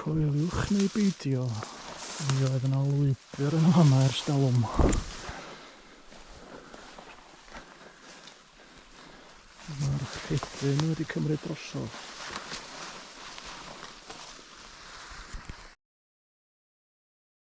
Coeliwch neu beidio, mi oedd yna lwybr yn hama ers dalwm. Mae'r rhedyn wedi cymryd drosodd.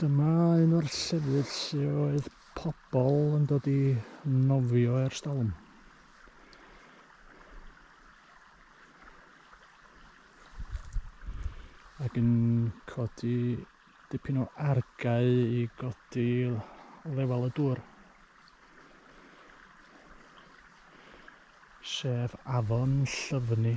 Dyma un o'r llefydd lle oedd pobl yn dod i nofio ers dalwm. ac yn codi dipyn o argae i godi lefel y dŵr. Sef afon Llyfni.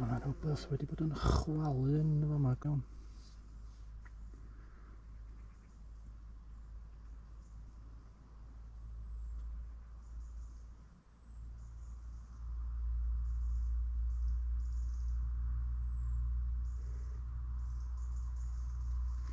Mae rhywbeth wedi bod yn chwalu yn y fama gawn.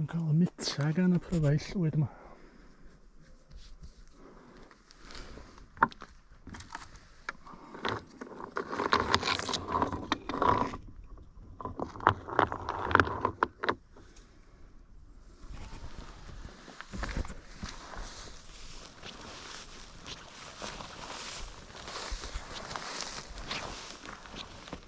Yn cael y mitra gan y pryfau llwyd yma.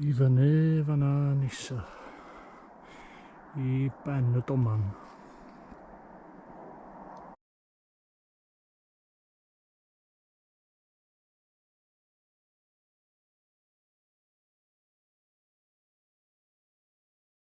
I fyny fanna nisa. I ben y doman.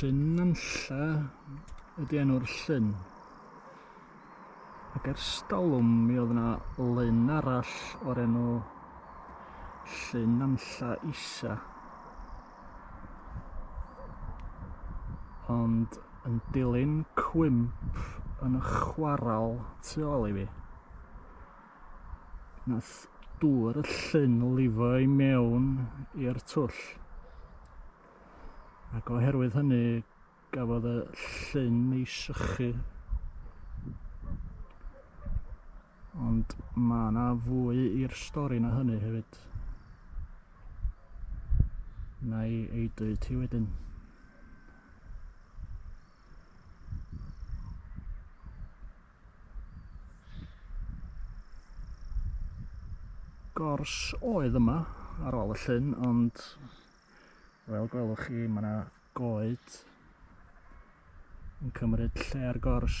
Llyn Nantlla ydy enw'r llyn. Ac ers stalwm mi oedd yna lyn arall o'r enw Llyn Nantlla Isa. Ond yn dilyn cwymp yn y chwaral tu ôl i fi. Nath dŵr y llyn lifo i mewn i'r twll. Ac oherwydd hynny, gafodd y llyn ei sychu. Ond mae yna fwy i'r stori na hynny hefyd. Na i ei dweud ti wedyn. gors oedd yma ar ôl y llyn, ond fel gwelwch chi mae yna goed yn cymryd lle ar gors.